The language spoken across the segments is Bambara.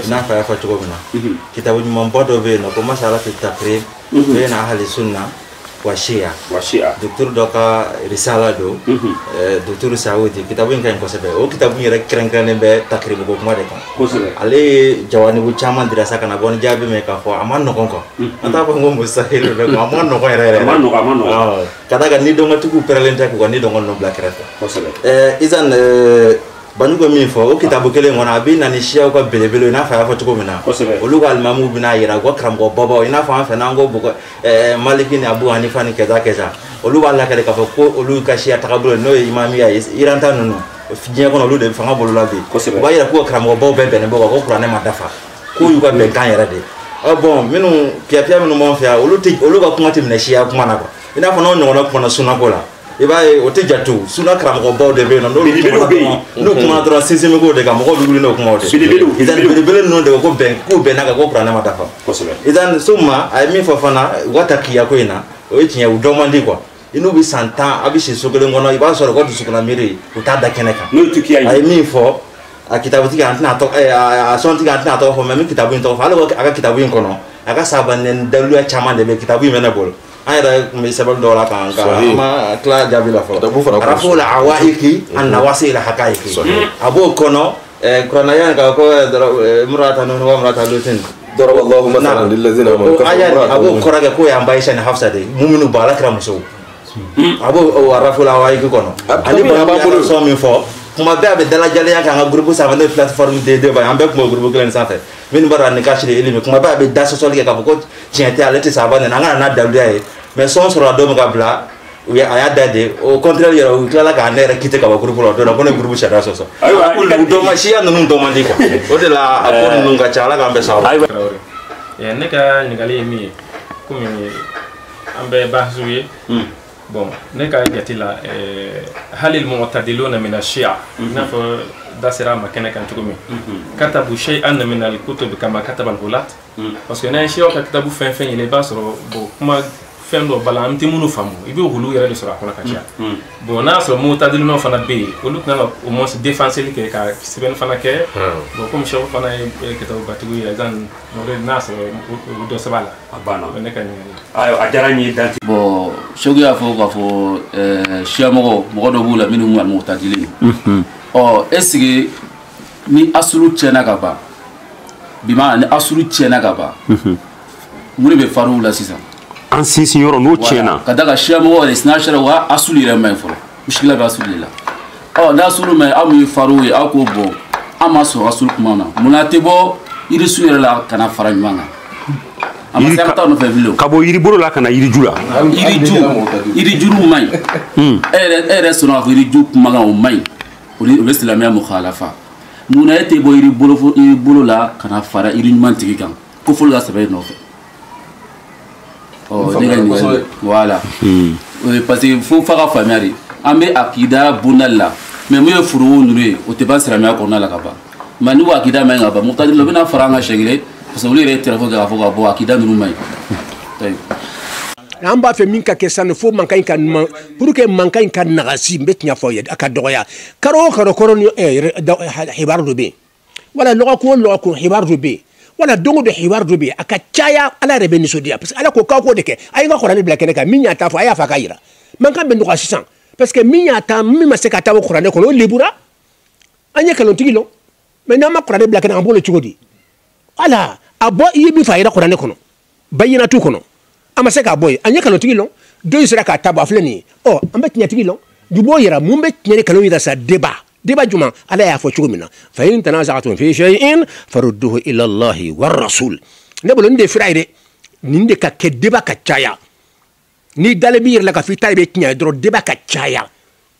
n'a fɔ a y'a fɔ cogo min na kitabu ɲumanba dɔ bɛ yen nɔ ko masala fi takiribu bayina ahali sunna wa siya wa siya dɔgɔtɔrɔ dɔ ka risala don dɔgɔtɔrɔ sawudi kitabu in ka ɲi kosɛbɛ o kitabu in yɛrɛ kɛrɛnkɛrɛnnen bɛ takiribu ko kuma de kan kosɛbɛ ale ye jawanibu caman dira sa ka na bɔ ni jaabi min k'a fɔ a man nɔgɔn quoi an t'a fɔ ko mustahili dɛ a man nɔgɔn yɛrɛ yɛrɛ a man nɔgɔn a man nɔgɔn ka d'a kan nidungɔtigiw pɛrɛlen tɛ k'u ka nidungɔ ninnu bila kɛrɛfɛ kosɛbɛ ɛɛ izan banu bɛ min fɔ o kitabu kelen kɔnɔ a bɛ na ni siyaw ka belebele i n'a fɔ a y'a fɔ cogo min na olu ka alimamu bɛna yira u ka karamɔgɔ babaw i n'a fɔ an fɛ n'an ko bɔgɔ eh, maliki ni abu hanifa ni kaza kaza olu b'a lakale k'a fɔ ko olu ka siya tagabolo n'o ye imamiya ye iran ta ninnu diɲɛ kɔnɔ olu de fanga b'olu la bi u b'a yira k'u ka karamɔgɔ baw bɛɛ bɛnnen b'o kan ko kuranɛ ma dafa k'o y'u ka bɛnkan yɛrɛ de ah, bon minnu piyapiya minnu b'an fɛ yan olu ka kuma tɛ minɛ siya kuma na quoi i n'a fɔ n'o ɲɔgɔnna kumana sunako la i b'a ye o tɛ jate o suna karamɔgɔbaw de bɛ yen nɔ n'olu kuma dɔrɔn n'u kumana dɔrɔn sinsin bɛ k'o de kan mɔgɔw bɛ wuli n'o kumaw de ye idan belebele ninnu de ko bɛn k'u bɛnn'a kan ko kuranɛ ma dafa idan summa a ye min fɔ fana u ka takiya ko in na o ye tiɲɛ u dɔn man di quoi i n'u bɛ san tan a bɛ si so kelen kɔnɔ i b'a sɔrɔ u ka dusukunna miiri u t'a da kɛnɛ kan a ye min fɔ a kitabutigi an tɛna tɔgɔ a sɔntigi an tɛna tɔgɔ fɔ mais n bɛ kitabu in tɔgɔ fɔ hali a ka kitabu in kɔnɔ a ka sahaba nɛni daliluya caman de bɛ kitabu in bɛ ne bolo an yɛrɛ tun bɛ sɛbɛn dɔw la k'an ka an ma tila jaabi la fɔlɔ arafu la awayiki an nawasi la hakayiki a b'o kɔnɔ kuranɛ aya ka ko murata nuhin wa murata lutin daraba allahu masalan lilazina amanu a b'o kɔrɔ kɛ k'o y'an ba ayisa ni hafsa de ye muminiw ba ala kira musow a b'o arafu la awayiki kɔnɔ ani b'a bolo sɔn min fɔ kuma bɛɛ a bɛ dalajalenya kɛ an ka gurupu sanfɛ n'o ye plateforme de débat ye an bɛɛ tun b'o gurupu kelen sanfɛ minnu b'a dɔn a ni kasi de ye elimi kuma bɛɛ a bɛ da sɔsɔli kɛ k'a fɔ ko tiɲɛ tɛ ale tɛ sahaba nɛni an ka na n'a daluya ye mais sɔn sɔrɔla don min k'a bila u ye a y'a da de au contraire yɛrɛ u tilala ka ne yɛrɛ kite ka bɔ gurupu la o don na ko ne gurupu sariya sɔsɔ dɔn man siya ninnu dɔn man di quoi o de la a ko ninnu ka ca ala k'an bɛɛ sababu ne ka ɲininkali ye min ye komi an bɛɛ bahasiw ye bon ne ka jate la eh, hali mutadiluna mina siya i n'a fɔ da sera a ma kɛnɛ kan cogo min katabu sayian mina alkutubi kama kataba algulat parce que n'an ye siyaw ka kitabu fɛn fɛn ɲini i b'a sɔrɔ bon kuma fɛn dɔ b'a la an tɛ minnu faamu i bɛ olu yɛrɛ de sɔrɔ a kɔnɔ ka caya bon n'a sɔrɔ mutadiluna fana bɛ yen olu kan ka au moins défenseli kɛ ka sɛbɛnni fana kɛ bon komi cheikh fana ye kitabubatigi ye izan n'a sɔrɔ u dɔ sɛbɛn a la a banna ne ka ɲininkali ayiwa a diyara n ye dan tɛ bon cheikh y'a fɔ k'a fɔ eh, siya mɔgɔ mɔgɔ dɔ b'u la minnu almutadilin don mhm. ɔ est ce que ni asulu tiɲɛna ka ban bimaana ni asulu tiɲɛna ka ban mhm. mun de bɛ faruu la sisan an sinsin yɔrɔ n'o tiɲɛna ka d'a kan siya mɔgɔ yɛrɛ sina sera u ka asulu yɛrɛ man ɲi fɔlɔ muskila bɛ asulu de la ɔ n'asulu man ɲi aw min ye far'u ye aw k'o bɔ an ma sɔn asulu kuma na mun na a tɛ bɔ yirisun yɛrɛ la ka na fara ɲɔgɔn kan a ma se ka taa nɔfɛ bilen ka bɔ yiribolo la ka na yiriju la yiriju yirijuru man ɲi hmm. e yɛrɛ e yɛrɛ sɔnna k'a fɔ yiriju kumakan o man ɲi o bɛ silamɛya mukhalafa mun na e tɛ bɔ yiribolo la ka na fara yiri ɲuman tigi kan ko fɔlɔ ka sɛbɛn e nɔfɛ ɔ ne ka ɲininkali voilà parce que fo fa ka faamuya de an bɛ akida bondali la mais mun ye furu'u ninnu ye o tɛ ban silamɛya kɔnɔna la ka ban mais ni ko akida man ɲi ka ban mu'tadiluna u bɛna fara an kan siɲɛ kelen parce que olu yɛrɛ ye tɛrɛfo kɛ k'a fɔ ka bɔ akida ninnu man ɲi an b'a fɛ min ka kɛ sanni fo mankan in ka ban pour que mankan in ka nagasi n bɛ tiɲɛ fɔ aw ye a ka dɔgɔya karo o karo kɔrɔ ni hibaru dɔ bɛ yen wala lɔgɔkun o lɔgɔkun hibaru dɔ bɛ yen wala don o don hibaru dɔ bɛ yen a ka caya ala yɛrɛ bɛ nisɔndiya parce que ala ko k'aw k'o de kɛ a ye an ka kuranɛ bila kɛnɛ kan min y'a ta fɔ a y'a fɔ a k'a yira mankan bɛ nɔgɔya sisan parce que min y'a ta min ma se k'a ta bɔ kuranɛ kɔnɔ o lebura an ye nkalontigi lɔn mais n'an ma kuranɛ bila kɛnɛ an b'o lɔn cogo di ala a bɔ i ye min fɔ a yira kuranɛ kɔnɔ bayinatu kɔnɔ a ma se k'a bɔ yen an ye nkalontigi lɔn dɔ in sera k'a ta bɔ a filɛ nin ye ɔ an bɛ tiɲɛtigi lɔn bi b'o yira mun bɛ tiɲɛ ni nkalon yira sa débat débat jumɛn ala y'a fɔ cogo min na fa in tanaza'tum fi shay'in farudduhu ila allahi wa rasul ne bolo nin de fira ye dɛ nin de ka kɛ débat ka caya n'i dalen b'i yɛrɛ la k'a fɔ i ta de bɛ tiɲɛ ye dɔrɔn débat ka caya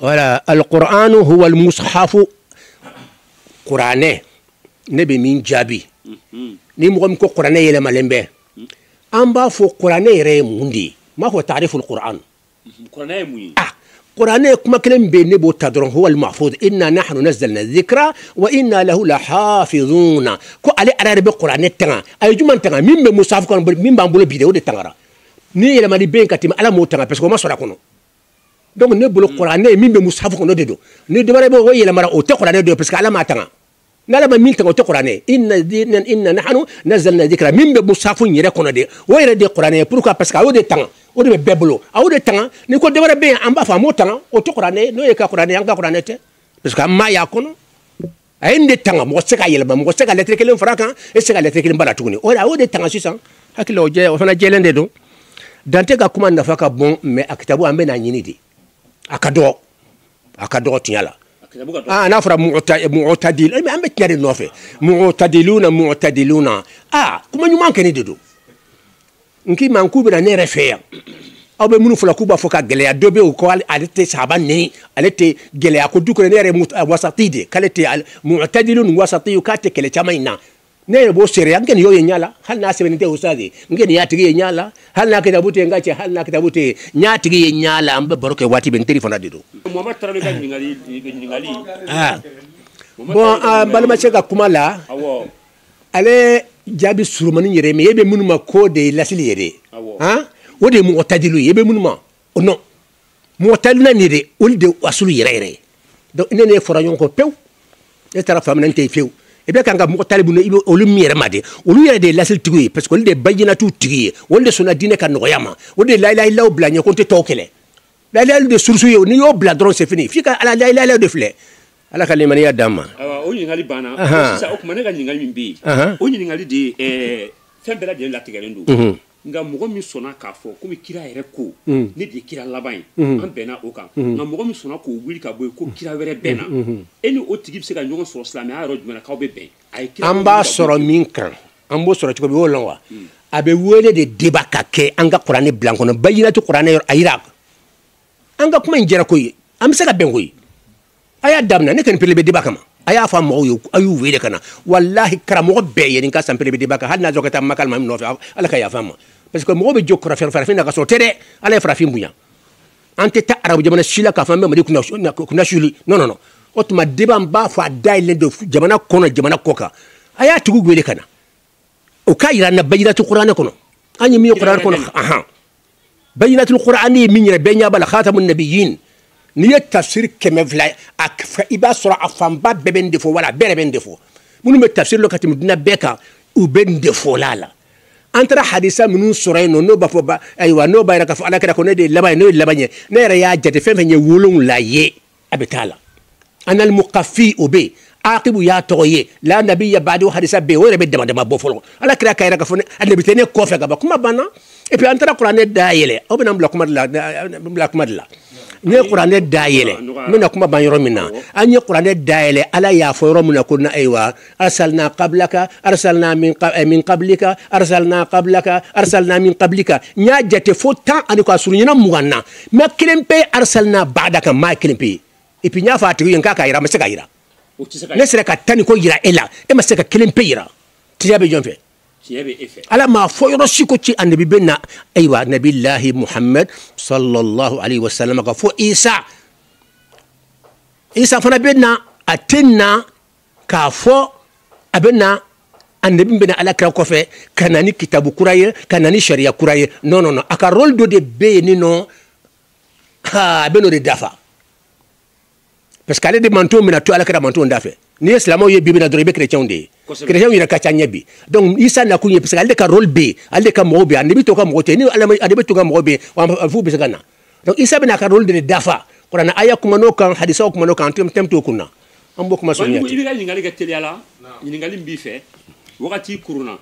voilà alqur'anu huwa almushafu kuranɛ ne bɛ min jaabi mhm. ni mɔgɔ min ko kuranɛ yɛlɛmalen bɛ mhm. an b'a fɔ kuranɛ yɛrɛ ye mun de ye n b'a fɔ taariful kuran mhm. ah kuranɛ kuma kelen bɛ ne b'o ta dɔrɔn huwa almahfuz inna nahnu nazzalna dhikra wa inna lahu lahafizuna ko ale ala yɛrɛ bɛ kuranɛ tanga a ye jumɛn tanga min bɛ musafu kɔnɔ min b'an bolo bi de o de tangara ni yɛlɛmani bɛ yen ka tɛmɛ ala m'o tanga parce que o ma sɔrɔ a kɔnɔ donc ne bolo mm. kuranɛ ye min bɛ musafu kɔnɔ de don ni dɔwɛrɛ bɛ o yɛlɛmara o tɛ kuranɛ don parce que ala m'a tanga n'ala ma min tanga o tɛ kuranɛ inna dina inna nahnu nazzalna dhikra min bɛ musafu yɛrɛ kɔnɔ de o yɛrɛ de kuranɛ pourquoi parce que a y'o de tanga o de bɛ bɛɛ bolo a y'o de tanga ni ko dɔwɛrɛ bɛ yen an b'a fɔ a m'o tanga o tɛ kuranɛ n'o ye ka kuranɛ an ka kuranɛ tɛ parce que an m'a y'a kɔnɔ a ye nin de tanga mɔgɔ tɛ se k'a yɛlɛma mɔgɔ tɛ se ka lɛtiri kelen far'a kan e tɛ se ka lɛtiri kelen b'a la tuguni o de a y'o de tanga sisan hakili o jɛ o fana jɛlen de don dante ka kuma nafa ka bon mais a kitabu an bɛ n'a ɲini de a ka dɔgɔ a ka dɔgɔ tiɲɛ la aa n'a fɔra mu'tadil an bɛ tiɲɛ de nɔfɛ mu'tadiluna mu'tadiluna aa kuma ɲuman kɛnɛ de don n k'i ma k'u bɛna ne yɛrɛ fɛ yan aw bɛ minnu fɔla k'u b'a fɔ ka gɛlɛya dɔ bɛ yen ko ale tɛ sahaba nɛni ale tɛ gɛlɛya ko du kɔnɔ ne yɛrɛ ye wasati de k'ale tɛ mu'tadilu ninnu wasati ye k'a tɛ kɛlɛ caman in na ne yɛrɛ b'o seere n kɔni y'o ye ɲa la hali n'a sɛbɛnnen tɛ ustazi n kɔni y'a tigi ye ɲa la hali n'a kitabu tɛ n ka cɛ hali n'a kitabu tɛ n y'a tigi ye ɲa la an bɛ baro kɛ waati bɛɛ n teri fana de don. mohamɛdi tarawele ka ɲininkali ɲininkali. bɔn an balimakɛ ka kuma la. ale jaabi surumani yɛrɛ mais e bɛ minnu ma ko de ye lasili yɛrɛ ye han o de ye mu'tadiluw ye e bɛ minnu ma o non mu'tadiluna nin de olu de asulu yɛrɛ yɛrɛ ye donc ne n'e fɔra ɲɔgɔn kɔ pewu e taara fan min na n tɛ yen fewu i bɛ kan ka mu'tadilu i bɛ olu min yɛrɛ ma de olu yɛrɛ de ye lasili tigiw ye parce que olu de ye bayinatu tigi ye olu de sɔnna diinɛ ka nɔgɔya ma o de ye la ilaha illallah bila ɲɛ ko n tɛ tɔw kɛlɛ la ilaha illallah de surusu ye n'i y'o bila dɔrɔn c'est fini f'i ka ala la ilaha illallah de filɛ ala ka limaniya d'an ma o ɲininkali banna sisan o tuma ne ka ɲininkali min bɛ yen o ɲininkali de ye fɛn bɛɛ lajɛlen latigɛlen don mhm. nka mɔgɔ min sɔnna k'a fɔ komi kira yɛrɛ ko mhm. ne de ye kira laban ye mhm. an bɛnna o kan nka mɔgɔ min sɔnna k'o wuli ka bɔ yen ko kira wɛrɛ bɛ na e ni o tigi bɛ se ka ɲɔgɔn sɔrɔ silamɛya yɔrɔ jumɛn na k'aw bɛ bɛn a ye kira an b'a sɔrɔ min kan an b'o sɔrɔ cogo min o lɔn wa mm. a bɛ wele de débat ka kɛ an ka kuranɛ bila kɔnɔ bayinatu kuranɛ yɔrɔ a yira an ka kuma in jɛra ko ye an bɛ se ka bɛn ko ye a y'a daminɛ ne kɔni prêt bɛ débat kama a y'a fɔ a mɔgɔw ye a y'u wele ka na walahi karamɔgɔ bɛɛ ye nin ka san prêt bɛ débat kan hali n'a sɔrɔ ka taa maka maa min nɔfɛ ala ka yafa ma parce que mɔgɔw bɛ jɔ kɔrɔfɛ farafin na ka sɔrɔ tɛ dɛ ala ye farafin bonya an tɛ taa arabu jamana si la k'a fɔ an bɛ mali kunnasuli non non non o tuma débat n b'a fɔ a dayɛlɛlen don jamana kɔnɔ jamana kɔkan a y'a tigiw wele ka na u k'a yira an na bayinatu kuranɛ kɔnɔ an ye min ye kuranɛ kɔnɔ ahan bayinatul kuranɛ ye min yɛrɛ bɛɛ ɲɛ b'a la khatamu nabiyin n'i ye tafsiri kɛmɛ filɛ i b'a sɔrɔ a fanba bɛɛ bɛ nin de fɔ wala a bɛɛ yɛrɛ bɛ nin de fɔ minnu bɛ tafsiri dɔn ka tɛmɛ duniya bɛɛ kan u bɛ nin de fɔ la a la an taara hadisa minnu sɔrɔ yen nɔ n'o b'a fɔ ayiwa n'o b'a yira k'a fɔ ala kira ko ne de ye laban ye n'o ye laban ye ne yɛrɛ y'a jate fɛn fɛn ye wolonwula ye a bɛ taa la anal muqaffi o bɛ aqibu y'a tɔgɔ ye la nabiyya ba'di hadisa bɛ o yɛrɛ bɛ dama dama bɔ fɔlɔ ala kira k'a yira k'a fɔ annabi tɛ ne kɔfɛ ka ban kuma banna et puis an taara kuranɛ da yɛlɛ aw bɛna n bila kuma de la bila kuma de la ne ye kuranɛ da yɛlɛ n bɛna kuma ban yɔrɔ min na an ye kuranɛ da yɛlɛ ala y'a fɔ yɔrɔ min na ko na ayiwa arsalna qablaka arsalna min eh, min qablika arsalna qablaka arsalna min qablika n y'a jate fo tan ani kɔ a surunyana mugan na mais kelen pe arsalna ba'daka n ma kelen pe et puis n y'a fɔ a tigi ye n k'a k'a yira a ma se k'a yira ne sera ka tan ni kɔ yira e la e ma se ka kelen pe yira tiɲɛ bɛ jɔn fɛ ala m'a fɔ yɔrɔ si ko ci annabi bɛ na ayiwa nabilahi muhammad sallallahu alaihi wasallam kɔfɛ isa isa fana bɛ na a tɛ na k'a fɔ a bɛ na annabi bɛna ala kira kɔfɛ ka na ni kitabu kura ye ka na ni sariya kura ye non non non a ka rôle dɔ de bɛ yen ni nɔ ha a bɛ n'o de dafa parce que ale de mantonw bɛna to ala kira mantonw da fɛ n'i ye silamɛw ye bi bi na dɔrɔn i bɛ kerecɛnw de ye kerecɛnw yɛrɛ ka ca an ye bi donc isa nakun ye parce que ale de ka rôle bɛ yen ale de ka mɔgɔw bɛ yen annabi tɔw ka mɔgɔ tɛ ni annabi tɔw ka mɔgɔ bɛ yen f'u bɛ se ka na donc isa bɛna a ka rôle de dafa kuranɛ aya kuma n'o kan hadisaw kuma n'o kan tɛmɛ t'o kun na an b'o kuma sɔrɔ i bɛ ka ɲininkali kɛ teliya la ɲininkali min b'i fɛ wagati kurunna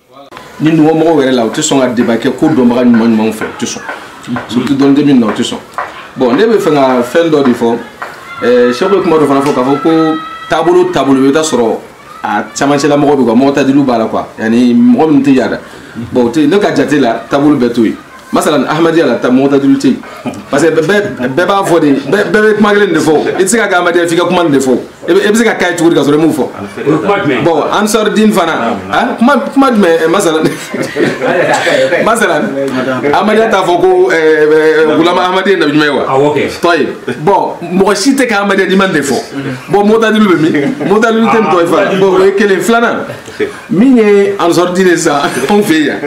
ninnu mɔgɔw yɛrɛ la u tɛ sɔn ka débat kɛ ko dɔnbaga ɲuman ɲumanw fɛ u tɛ sɔn surtout dɔnni de bɛ min na u tɛ sɔn bon ne bɛ fɛ ka fɛn dɔ de fɔ sɛku ye kuma dɔ fana fɔ k'a fɔ ko taabolo taabolo i bɛ taa sɔrɔ a camancɛla mɔgɔ bɛ quoi motadilu b'a la quoi yani mɔgɔ minnu tɛ yada bon o tɛ ne ka jate la taabolo bɛɛ t'o ye masalan ahmadiyya la ta motadilu tɛ yen parce que bɛɛ bɛɛ b'a fɔ de bɛɛ bɛɛ bɛ kuma kelen de fɔ i tɛ se ka kɛ ahmadiyya f'i ka kuma nin de fɔ i bɛ i bɛ se ka k'a ye cogo di ka sɔrɔ i m'o fɔ bon ansar dine fana kuma kuma jumɛn masalan masalan ahmadiyya t'a fɔ ko gulam ahmad ye nabi ɲuman ye wa tɔyi bon mɔgɔ si tɛ kɛ ahmadiyya n'i ma nin de fɔ bon motadilu bɛ min motadilu tɛ yen tɔyi fa bon o ye kelen filanan min ye ansar dine sisan anw fɛ yan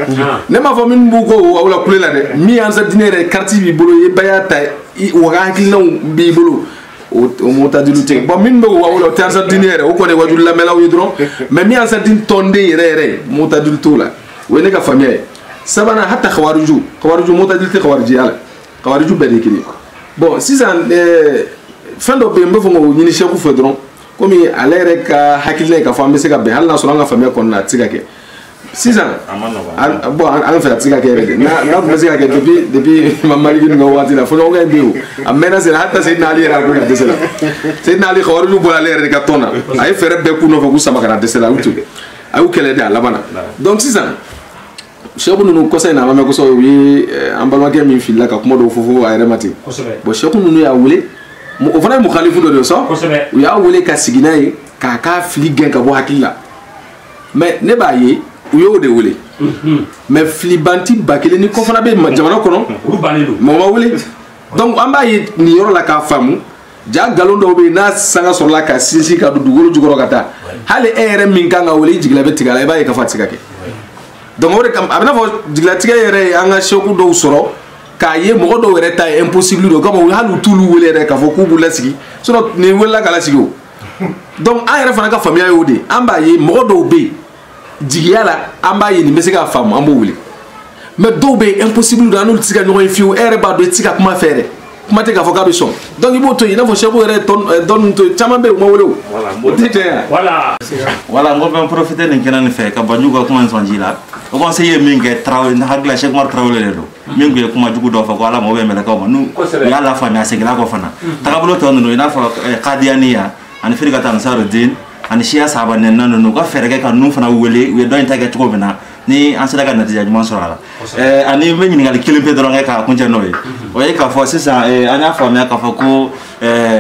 ne m'a fɔ minnu b'u ko aw la kule la dɛ min ye ansar dine yɛrɛ kariti b'i bolo i ye baya ta u ka hakilinaw b'i bolo o motadilu tɛ bon minnu bɛ k'u ka wele o tɛ ansar dine yɛrɛ o kɔni wajulu lamɛnlaw ye dɔrɔn mais min ansar dine tɔnden yɛrɛ yɛrɛ ye motadilu t'o la o ye ne ka faamuya ye sabanan hata kawariju kawariju motadilu tɛ kawarijiya la kawariju bɛɛ de ye kelen bon sisan fɛn dɔ bɛ yen n b'a fɛ k'o ɲini sɛku fɛ dɔrɔn komi ale yɛrɛ ka hakilina ye k'a fɔ an bɛ se ka bɛn hali n'a sɔrɔ an ka faamuya kɔnɔna a tɛ se ka kɛ sisan bon an fɛ a tɛ se ka kɛ yɛrɛ de n'a tun bɛ se ka kɛ depuis depuis imamu ali ninnu ka waati la fɔɲɔgɔnkɔ in bɛ yen a mɛnna sen na hata seyidina ali yɛrɛ a ko ka dɛsɛ la seyidina ali kawariju bɔra ale yɛrɛ de ka tɔn na a ye fɛɛrɛ bɛɛ k'u nɔfɛ k'u sama ka na a dɛsɛla a y'u to a y'u kɛlɛ de a laban na donc sisan sɛku ninnu kɔsa in na a ma mɛn kosɛbɛ u ye an balimakɛ min filila ka kuma dɔw fɔ fo a yɛrɛ ma ten bon sɛku ninnu y'a wele o fana ye mukalifu dɔ de ye sɔn u y'a wele ka sigi n'a ye k'a ka fili gɛn ka bɔ hakili la mais ne b'a ye u y'o de wele mhm. mais filibanti ba kelen ni ko fana bɛ jamana kɔnɔ mɔgɔ m'o wele donc an b'a ye nin yɔrɔ la k'a faamu ja nkalon dɔw bɛ yen n'a sanga sɔrɔla ka sinsin ka don dugukolo jukɔrɔ ka taa hali e yɛrɛ min kan ka wele i jigila bɛ tigɛ a la i b'a ye k'a fɔ a tɛ se ka kɛ donc o de kama a b'i n'a fɔ jigilatigɛ yɛrɛ ye an ka sɛku dɔw sɔrɔ k'a ye mɔgɔ dɔw yɛrɛ ta ye impossible don o kama hali u t'olu wele yɛrɛ k'a fɔ k'u b'u lasigi sinon nin welela ka lasigi o donc an yɛrɛ fana ka faamuya y'o de ye an b'a ye mɔgɔ dɔw bɛ yen jigiya la an b'a ye nin bɛ se k'a faamu an b'o wele mais dɔw bɛ yen impossible don an n'olu tɛ se ka ɲɔgɔn ye fiyewu e yɛrɛ b'a dɔn i tɛ se ka kuma a fɛ yɛrɛ kuma tɛ k'a fɔ k'a bɛ sɔn donc i b'o to yen i n'a fɔ seku yɛrɛ dɔnni to yen caman bɛ yen u ma wele o o tɛ tiɲɛ yan. voilà voilà n ko n bɛ n profiter nin kɛnɛ nin fɛ ka banjugu ka kuma in sɔn ji la haut conseil ye min kɛ tarawele n hakili la seku umar tarawele de don. min tun ye kuma jugu dɔ fɔ ko ala mago bɛ mɛlɛkaw ma n'u u y'a lafaamuya a seginna kɔ fana tagabolo tɔ ninnu i n'a fɔ eh, kadiyaniya ani firikatu ansarudin ani siya sahaba nɛnina ninnu u ka fɛɛrɛ kɛ ka ninnu fana wele u ye dɔ in ta kɛ cogo min na ni an sera ka natija ɲuman sɔrɔ a la eh, ani n bɛ ɲininkali kelen pe dɔrɔn kɛ k'a kuncɛ n'o ye o ye k'a fɔ sisan eh, an y'a faamuya k'a fɔ ko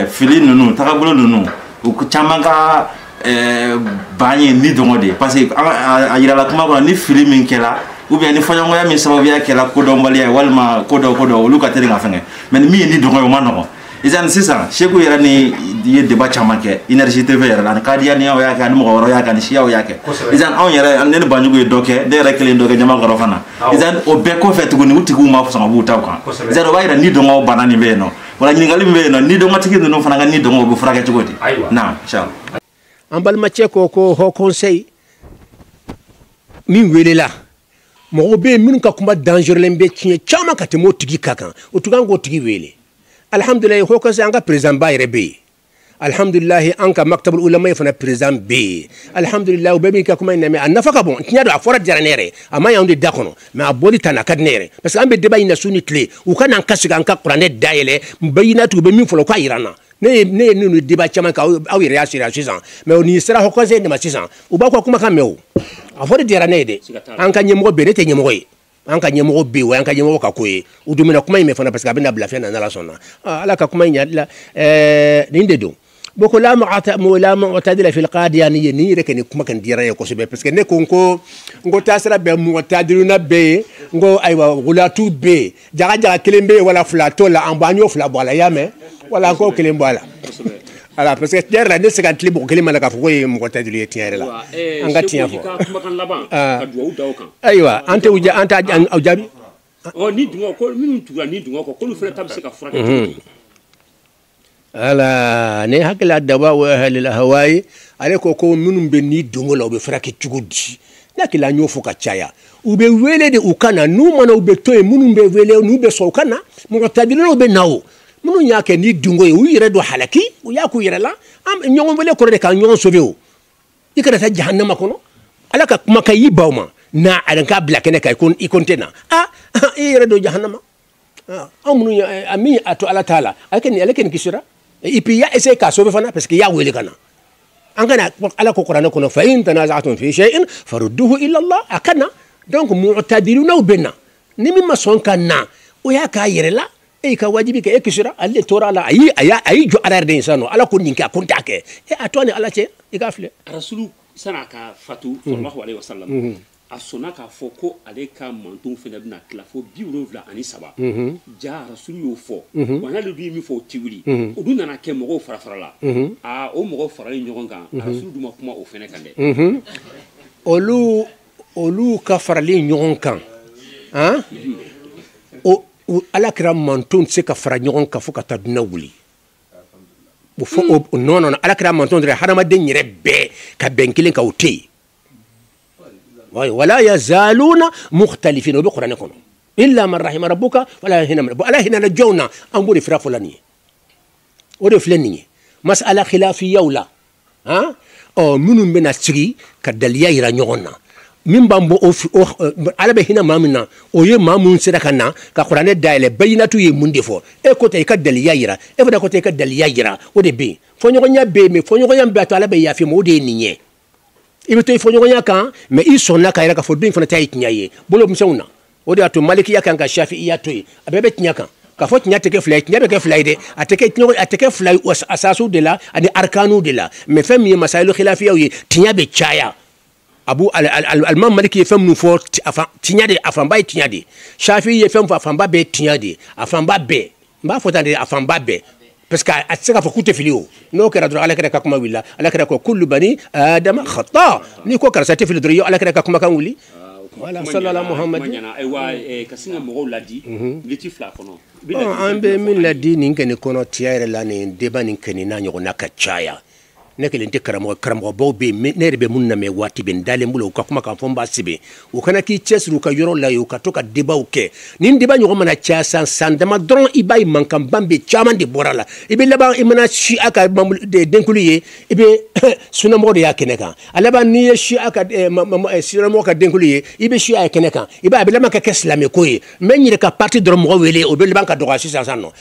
fili ninnu tagabolo ninnu u caman ka eh, bana ye ni dungɔ de ye parce que a yirala kuma kɔnɔ ni fili min kɛra ou bien ni fɔɲɔgɔnya min sababuya kɛra kodɔnbaliya ye walima ko dɔ ko dɔ olu ka teli ka fɛnkɛ mais ni min ye ni dungɔ ye o ma nɔgɔn izani sisan seku yɛrɛ ni ye débat caman kɛ energie tv yɛrɛ la a ni kadiyaniyaw y'a kɛ a ni mɔgɔ wɛrɛw y'a kɛ a ni siyaw y'a kɛ izani anw yɛrɛ ne ni banjugu ye dɔ kɛ ne yɛrɛ kelen dɔ kɛ jama kɔrɔ fana izani o bɛɛ kɔfɛ tuguni u tigiw ma sɔn ka b'u taw kan izani o b'a yira ni dungɔ bana nin bɛ yen nɔ voilà ɲininkali min bɛ yen nɔ ni dungɔtigi ninnu fana ka ni dungɔ bɛ furakɛ cogo di na an balimacɛ ko ko haut conseil min welela mɔgɔw bɛ yen minnu ka kuma dangerelen bɛ siɲɛ caman ka tɛmɛ o tigi ka kan o tun kan k'o tigi wele alihamdulilayi haut conseil an ka président ba yɛrɛ bɛ yen alhamdulilahi an ka maktabul ulamayi fana président bɛ yen alhamdulilahi u bɛɛ b'i ka kuma in lamɛn a nafa ka bon tiɲɛ don a fɔra diyara ne yɛrɛ a ma y'anw de da kɔnɔ mais a bɔli ta na ka di ne yɛrɛ parce que an bɛ débat in na su ni tile u ka n'an ka sigi an ka kuranɛ dayɛlɛ bayinatu u bɛ min fɔlɔ u k'a yira an na ne ye ne ye ninnu débat caman kɛ aw yɛrɛ y'a sira sisan mais nin sera haut conseil de ma sisan u b'aw ka kumakan mɛn o a fɔra diyara ne ye dɛ an ka ɲɛmɔgɔ bɛ yen ne tɛ ɲɛmɔgɔ ye an ka ɲɛmɔgɔ bɛ yen o y'an ka ɲɛmɔgɔ ka ko ye u dumina kuma in mɛn fana parce que a bɛna bila fɛn na n'ala sɔnna ala ka kuma in ɲa la ɛɛ nin de don bon ko la mu'tadila fil qadiyaniya nin yɛrɛ kɛ nin kuma kan diyara n ye kosɛbɛ parce que ne ko n ko n ko taasira bɛɛ mu'tadiluna bɛ yen n ko ayiwa gulatu bɛ yen jaga jaga kelen bɛ yen voilà fila t'o la an bɔ an y'o fila bɔ a la i y'a mɛn voilà an k'o kelen bɔ a la voilà parce que tiɲɛ yɛrɛ la ne tɛ se ka tilen mɔgɔ kelen ma la k'a fɔ k'o ye mu'tadilu ye tiɲɛ yɛrɛ la an ka tiɲɛ fɔ ayiwa an tɛ an t'a jaabi ni dungɔ ko minnu tugura ni dungɔ kɔ k'olu fana ta bɛ se ka furakɛ mhm. voilà ne hakilila dawau ahlil ahwai ale ko ko minnu bɛ ni dungɔ la u bɛ furakɛ cogo di ne hakilila an y'o fɔ ka caya u bɛ wele de u ka na n'u ma na u bɛ to yen minnu bɛ wele n'u bɛ sɔn u ka na mu'tadilunaw bɛ na o minnu y'a kɛ ni dungo ye u yɛrɛ don halaki u y'a k'u yɛrɛ la ɲɔgɔn wele kɔrɔ de ka ɲɔgɔn sauver o i kana taa jahannama kɔnɔ ala ka kuma ka y'i baw ma n'a a k'a bila kɛnɛ kan i ko n tɛ na a i yɛrɛ don jahannama anw minnu a min a to ala ta'ala ale kɛni ale kɛni kisira et puis i y'a essayer k'a sauver fana parce que i y'a wele ka na an kana ala ko kuranɛ kɔnɔ fa in tanazatum fi shay'in farudduhu ila allah a ka na donc mu'tadilunaw bɛ na ni min ma sɔn ka na o y'a k'a yɛrɛ la e y'i ka wajibi kɛ e kisira ale de tora a la a y'i a y'a a y'i jɔ ala yɛrɛ de ye sisan nɔ ala ko nin kɛ a ko n t'a kɛ e a to a ni ala cɛ i k'a filɛ rasulu san'a ka fatu sallallahu alaihi wasallam a sɔnna k'a fɔ ko ale ka mantonw fana bɛna tila fo biwolonwula ani saba jaa rasulu y'o fɔ wa n'ale dun ye min fɔ o ti wuli o dun nana kɛ mɔgɔw farafarala aa o mɔgɔw faralen ɲɔgɔn kan rasulu dun ma kuma o fana kan dɛ olu olu ka faralen ɲɔgɔn kan an o u ala kira mantonw tɛ se ka fara ɲɔgɔn kan fo ka taa duniya wuli o fɔ o o non non ala kira mantonw dɔrɔn hadamaden yɛrɛ bɛɛ ka bɛn kelen kan o tɛ yen wayi wala yazaluna mukhtalifin o bɛ kuranɛ kɔnɔ illa man rahima rabbuka fo ala hina min na bon ala hinana jɔn na an b'o de fira fɔla nin ye o de filɛ nin ye masala khilafiyaw la han ɔ minnu bɛna sigi ka daliya yira ɲɔgɔn na min b'an bɔ o ala bɛ hina maa min na o ye maa minnu sera ka na ka kuranɛ dayɛlɛ bayinatu ye mun de fɔ e ko tɛ i ka daliya yira e fana ko tɛ i ka daliya yira o de bɛ yen fɔɲɔgɔnya bɛ yen mais fɔɲɔgɔnya bɛ a to ala bɛ yafa i ma o de ye nin ye i bɛ to i fɔɲɔgɔnya kan mais i sɔnna k'a yira k'a fɔ nin fana ta ye tiɲɛ ye bolo misɛnw na o de y'a to malikiya kan ka shafi'iya to yen a bɛɛ bɛ tiɲɛ kan k'a fɔ tiɲɛ tɛ kɛ fila ye tiɲɛ bɛ kɛ fila ye dɛ a tɛ kɛ tiɲɛ a tɛ kɛ fila ye asasiw de la ani arikanu de la mais fɛn min ye masayilu khilafiyaw ye tiɲɛ bɛ caya abu alimam maliki ye fɛn minnu fɔ tiɲɛ de a fanba ye tiɲɛ de shafi ye fɛn fɔ a fanba bɛɛ tiɲɛ de a fanba bɛɛ n b'a fɔ tan de a fanba bɛɛ parce que a tɛ se k'a fɔ k'u tɛ fili o n'o kɛra dɔrɔn alakira ka kuma wulila alakira ko kullu bani adama khata n'i ko karisa tɛ fili dɔrɔn i ye alakira ka kumakan wuli wala sallallahu muhamadu ka sin ka mɔgɔw laadi miniti fila kɔnɔ an bɛ min laadi nin kɛnɛ in kɔnɔ tiɲɛ yɛrɛ la nin débat nin kɛni n'a ɲɔgɔnna ka caya ne kelen tɛ karamɔgɔ karamɔgɔbaw bɛ yen ne yɛrɛ bɛ minnu lamɛn waati bɛɛ n dalen b'olu ka kuma kan fo n b'a sɛbɛn u ka na k'i cɛsiri u ka yɔrɔ la yen u ka to ka débatw kɛ nin débat ɲɔgɔn mana caya san san dama dɔrɔn i b'a ye mankan ban bɛ caman de bɔra a la i bɛ laban i mana shi'a ka denkunli ye i bɛ sunamɔgɔ de y'a kɛnɛ kan a laban n'i ye shi'a ka sunamɔgɔ ka denkunli ye i bɛ shi'a ye kɛnɛ kan i b'a a bɛ laban ka kɛ silamɛko ye n bɛ n yɛrɛ ka parti dɔrɔn mɔgɔ wele o bɛ laban ka dɔgɔya sisan sisan nɔ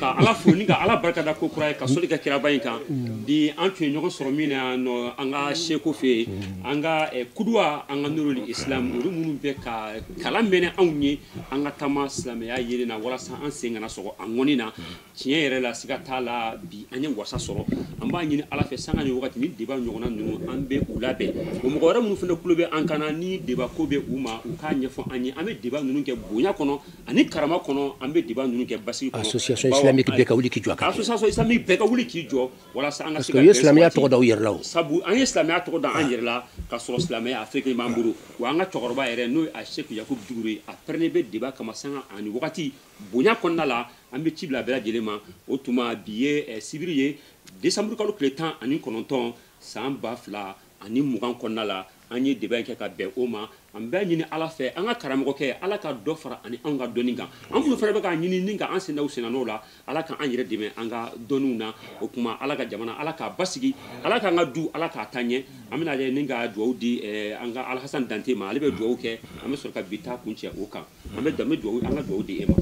ka ala fo ni ka ala barika da ko kura ye ka soli kɛ kiraba in kan bi an tun ye ɲɔgɔn sɔrɔ min na yan nɔ an ka seko fɛ yen an ka eh, kuduwa an ka nurul islam olu minnu bɛ ka kalan mɛnɛ anw ye an ka taama silamɛya yelen na walasa an sen kana sɔgɔ a ŋɔni na tiɲɛ yɛrɛ la siga t'a la bi an ye wasa sɔrɔ an b'a ɲini ala fɛ sanga ni wagati ni deba ɲɔgɔnna ninnu an bɛ u labɛn o mɔgɔ wɛrɛ minnu fana tulo bɛ an kan na ni deba ko bɛ u ma u k'a ɲɛfɔ an ye an bɛ deba ninnu kɛ bonya kɔnɔ ani karama kɔnɔ an bɛ débat ninnu kɛ basigi kɔnɔ association islamique bɛɛ ka wuli k'i jɔ a kan association islamique bɛɛ ka wuli k'i jɔ walasa an ka se ka u ye silamɛya tɔgɔ da u yɛrɛ la o sabu an ye silamɛya tɔgɔ da an yɛrɛ la ka sɔrɔ silamɛya a fɛn kelen b'an bolo wa an ka cɛkɔrɔba yɛrɛ n'o ye a sheku yakubu dukure a parelen bɛ débat kama sanga ani wagati bonya kɔnɔna la an bɛ ci bila bɛɛ lajɛlen ma o tuma bi ye eh, sibiri ye décembre kalo tile tan ani kɔnɔntɔn san ba fila ani mugan kɔnɔna la an ye deba in kɛ ka bɛn o ma an b'a ɲini ala fɛ an ka karamɔgɔkɛ ala ka dɔ fara a ni an ka dɔnni kan an minnu fana bɛ k'a ɲini ni ka an sen da u sennɔ la ala ka an yɛrɛ dɛmɛ an ka dɔnniw na o tuma ala ka jamana ala k'a basigi ala k'an ka du ala k'a taa ɲɛ an bɛna a lajɛ ni ka dugawu di eh, an ka alhasan dante ma ale bɛ dugawu kɛ an bɛ sɔrɔ ka bi ta kuncɛ o kan an bɛ dante dugawu an ka dugawu di e ma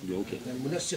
dugawu kɛ